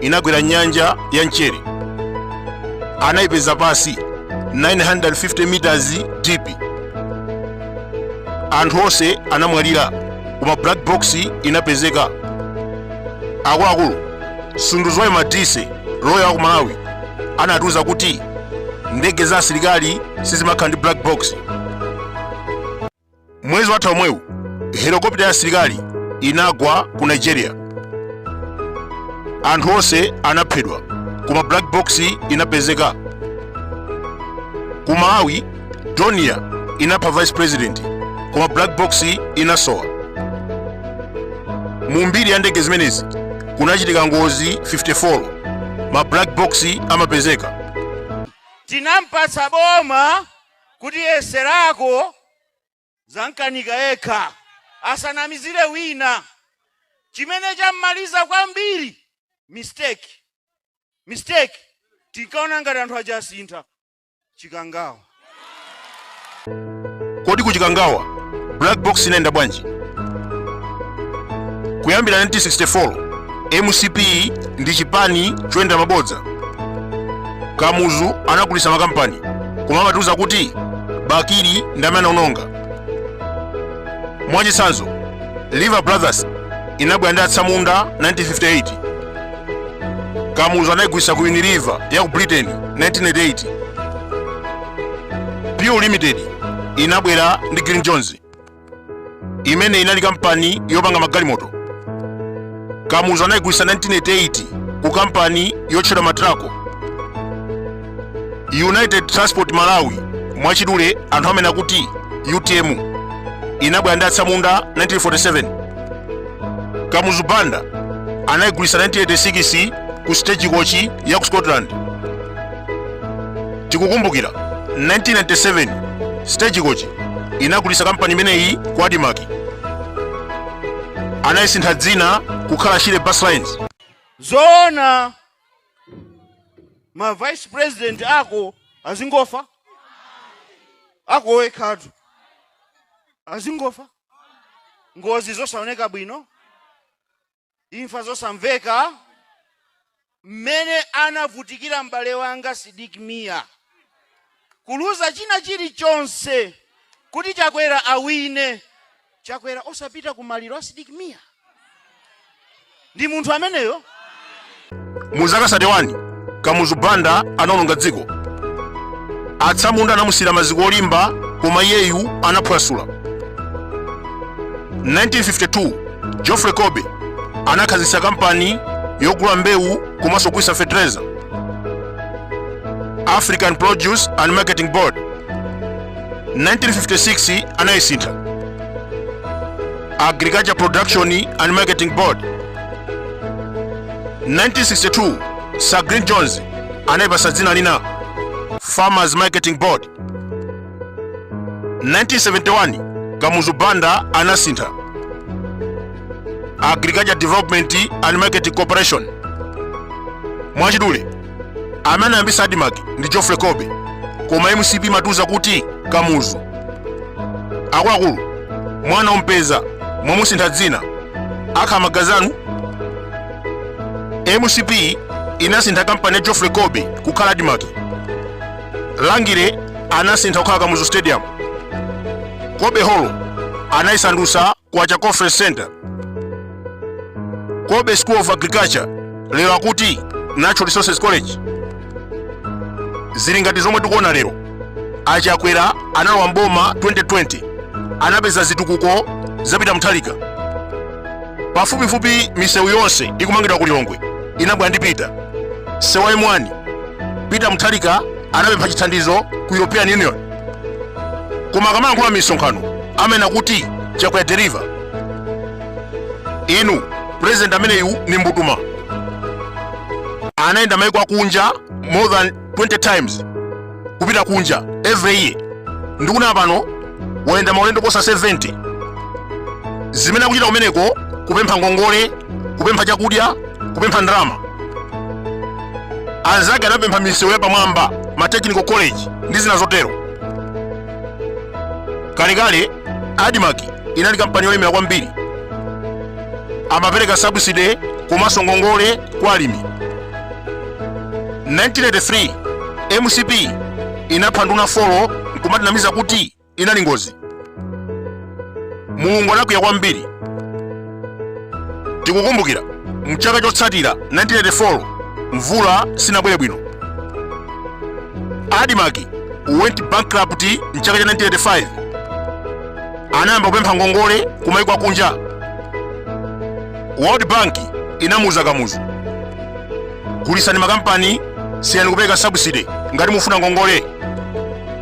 inagwera nyanja ya mchere anayipeza pansi 950 meters deep anthu onse anamwalira koma black box inapezeka akuluakulu sunduzwayo madise loya a ku malawi anatiuza kuti ndege za asilikali sizimakhala ndi black box mwezi watha omwewu helikopita ya asilikali inagwa ku nigeria anthu onse anaphedwa koma black box inapezeka ku malawi dornier inapha vice president koma black box inasowa mu mbiri ya ndege zimenezi kunachitika ngozi 54 ma black box amapezeka tinampatsa boma kuti yeserako zankanika yekha asanamizire wina chimene chammaliza kwambiri mistake mistake tinkaona ngati anthu aja asintha chikangawa kodi ku chikangawa black box inayenda bwanji kuyambira 1964 mcp ndi chipani choyendera mabodza kamuzu anagulitsa makampani koma amatiuza kuti bakili ndi amene anaononga mwachitsanzo lever brothers inabwera ndi atsamunda 1958 kamuzu anayigulitsa ku unilever ya ku britain 1988 pure limited inabwera ndi green jones imene inali kampani yopanga magalimoto kamuzu anayigulitsa 1988 ku kampani yotchedwa matrako united transport malawi mwachidule anthu amanena kuti utm inabwera ndi atsamunda 1947 kamuzu banda anayigulitsa 1986 ku stagecoach ya ku scotland tikukumbukira 1997 stagecoach inagulitsa kampani imeneyi ku admarc anayisintha dzina kukhala shire bus lines zoona ma vice president ako azingofa ako wekhatu azingofa ngozi zosaoneka bwino Imfa zosamveka, mmene anavutikira m'bale wanga Sidik Mia, kuluza china chilichonse kuti Chakwera awine, Chakwera osapita ku maliro a Sidik Mia? Ndi munthu ameneyo? mu zaka 31 kamuzu banda anaononga dziko atsamunda anamusiyira maziko olimba koma iyeyu anaphwasula 1952 geoffrey colby anakhazikitsa kampani yogula mbewu komanso kugulitsa fetereza african produce and marketing board 1956 anayisintha agriculture production and marketing board 1962 sir green jones anayipasa dzina lina farmers marketing board 1971 kamuzu banda anasintha agriculture development and marketing corporation mwachidule amene anayambisa admarc ndi geoffrey colby koma mcp imatiuza kuti kamuzu akuluakulu mwana ompeza mwamusintha dzina akhala magazi anu mcp inasintha kampani ya geoffrey colby kukhala admarc rangeley anasintha kukhala kamuzu stadium colby hall anayisandusa kwacha conference center colby school of agriculture lero akuti natural resources college zili ngati zomwe tikuona lero a chakwera analowa mboma 2020 anapeza zitukuko za peter mutharika pafupifupi misewu yonse ikumangidwa ku lilongwe inabwera ndi peter msewu wa m1 peter mutharika anapempha chithandizo ku european union koma akamayankhula m'misonkhano amanena kuti chakwera deliver inu president ameneyu ndi mbutuma anayenda maiko akunja more than 20 times kupita kunja every year ndikunena pano wayenda maulendo oposa 70 zimene akuchita kumeneko kupempha ngongole kupempha chakudya kupempha ndalama anzake anapempha misewu ya pamwamba ma technical college ndi zina zotero kalekale admarc inali kampani yolemera kwambiri amapereka subsidy komanso ngongole kwa alimi 1983 mcp inapha nduna folo nkumatinamiza kuti inali ngozi. Mulungu anakwiya kwambiri. Tikukumbukira mchaka chotsatira 1984 mvula sinabwere bwino. Admarc went bankrupt mchaka cha 1985. Anayamba kupempha ngongole kumaiko akunja. World Bank inamuuza Kamuzu, gulisani makampani, siyani kupereka subsidy ngati mufuna ngongole.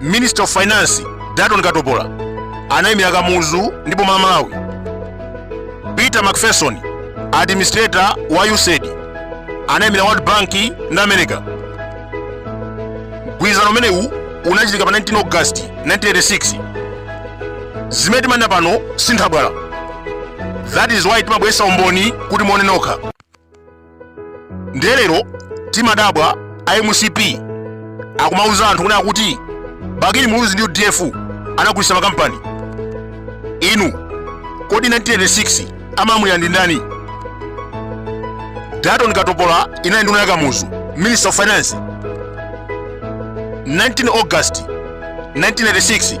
minister of finance dalton katopola anayimira kamuzu ndi boma la malawi peter mcpherson administrator wa usaid anayimira world bank ndi america mgwirizano umenewu unachitika pa 19 august 1986 zimene timanena pano sinthabwala that is why timabweresa umboni kuti muone nokha ndiye lero timadabwa a mcp akumauza anthu kuti akuti bakili muluzi ndi udf anagulitsa makampani inu kodi 1986 amalamulira ndi ndani dalton katopola inali nduna ya kamuzu minister of finance 19 august 1986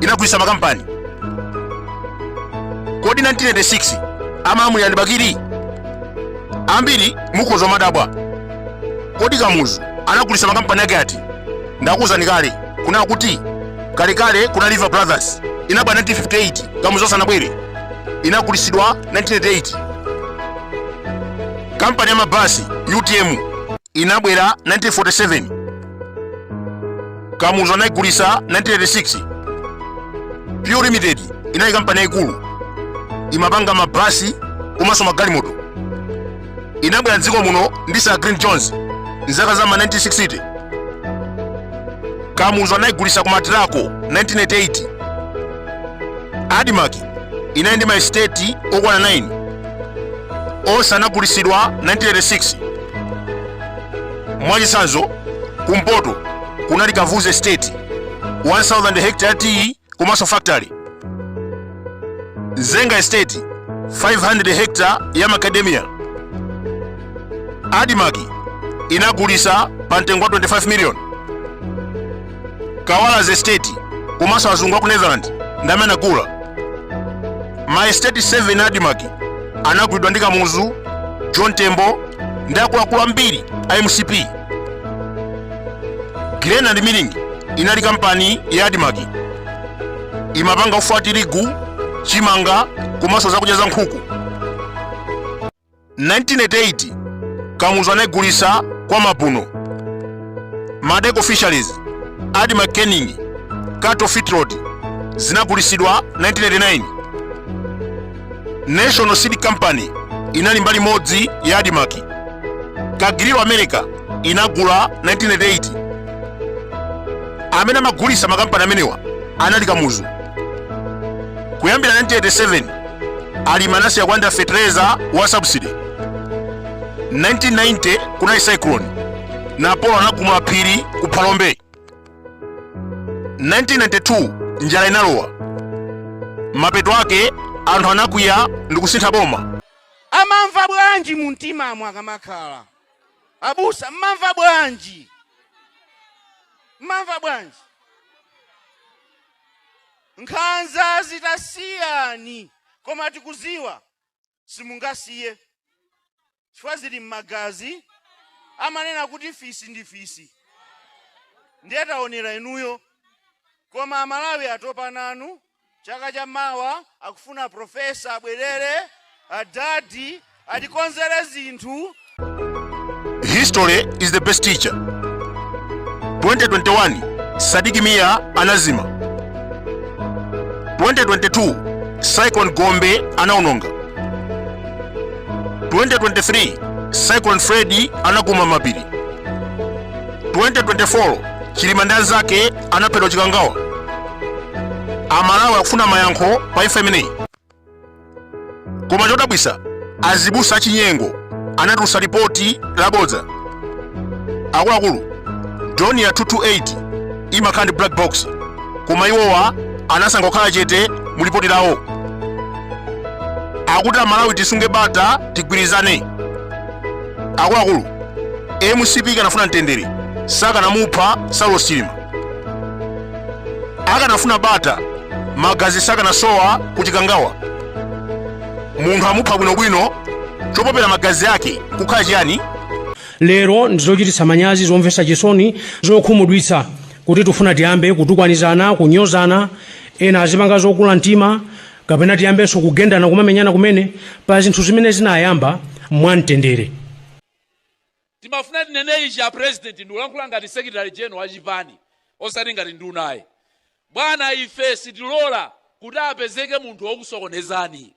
inagulitsa makampani kodi 1986 amalamulira ndi bakili ambiri mukhoza kumadabwa kodi kamuzu anagulitsa makampani ake ati ndakuwuzani kale kunena kuti kalekale kunali lever brothers inabwera 1958 kamuzu asanabwere inagulitsidwa 1988 kampani ya mabasi utm inabwera 1947 kamuzu anayigulisa 1986 pew limited inali kampani yayikulu imapanga mabasi komanso magalimoto inabwera mdziko muno ndi sir glyn jones mzaka za ma 1960 kamuzu anayigulisa ku maltraco 1988 admarc inali ndi maesiteti okwana 9 onse anagulisidwa 1986 mwachitsanzo kumpoto kunali kavuzi estate 1000 hectare tea komanso factory mzenga estate 500 hectare ya macadamia admarc inagulisa pa mtengo wa 25 million kawalazi estate komanso azungu a ku netherland ndi amene anagula ma estate 7 a admarc anagulidwa ndi kamuzu john tembo ndi akuluakulu ambiri a mcp grain and milling inali kampani ya admarc imapanga ufa wa tirigu chimanga komanso zakudya za nkhuku 1988 kamuzu anayigulisa kwa mapuno maldeco fisheries admarc canning cattle feedlot zinagulisidwa 1989 national seed company inali mbali modzi ya admarc cargill of america inagula 1988 amene amagulisa makampani amenewa anali kamuzu kuyambira 1987 alimi anasiya kulandira fetereza wa subsidy 1990 kunali cyclone napolo anagumula phiri ku phalombe 1992 njala inalowa mapeto ake anthu anakwiya ndi kusintha boma amamva bwanji mu mtimamo akamakhala abusa mmamva bwanji mmamva bwanji Nkhanzazi tasiyani koma tikuziwa simungasiye chifukwa zili m'magazi amanena kuti fisi ndi fisi ndiye taonera inuyo koma amalawi atopa nanu chaka cha mawa akufuna professor abwerere adadi atikonzere zinthu. History is the best teacher. 2021 Sadiki Mia anazima. 2022 Cyclone Gombe anaononga. 2023 Cyclone Freddy anaguma mapiri. 2024 Chilima ndi anzake anaphedwa Chikangawa. Amalawi akufuna mayankho pa imfa imeneyi. koma chodabwisa azibusa achinyengo anatulusa lipoti labodza akuluakulu Dornier 228 imakhala ndi black box koma iwowa anasankha kukhala chete mu lipoti lawo akuti amalawi tisunge bata tigwirizane akuluakulu mcp ikanafuna mtendere sakanamupha saulos chilima akanafuna bata magazi sakanasowa ku chikangawa munthu amupha bwinobwino chopopera magazi ake kukhala chiyani lero ndizochititsa manyazi zomvetsa chisoni zokhumudwitsa kuti tifuna tiyambe kutukwanizana kunyozana ena azipanga zokula mtima kapena tiyambenso kugendana kumamenyana kumene pa zinthu zimene zinayamba mwamtendere Timafuna tinene ichi a president ndikulankhula ngati secretary general wa chipani osati ngati nduna ayi. Bwana ife sitilola kuti apezeke munthu wokusokonezani.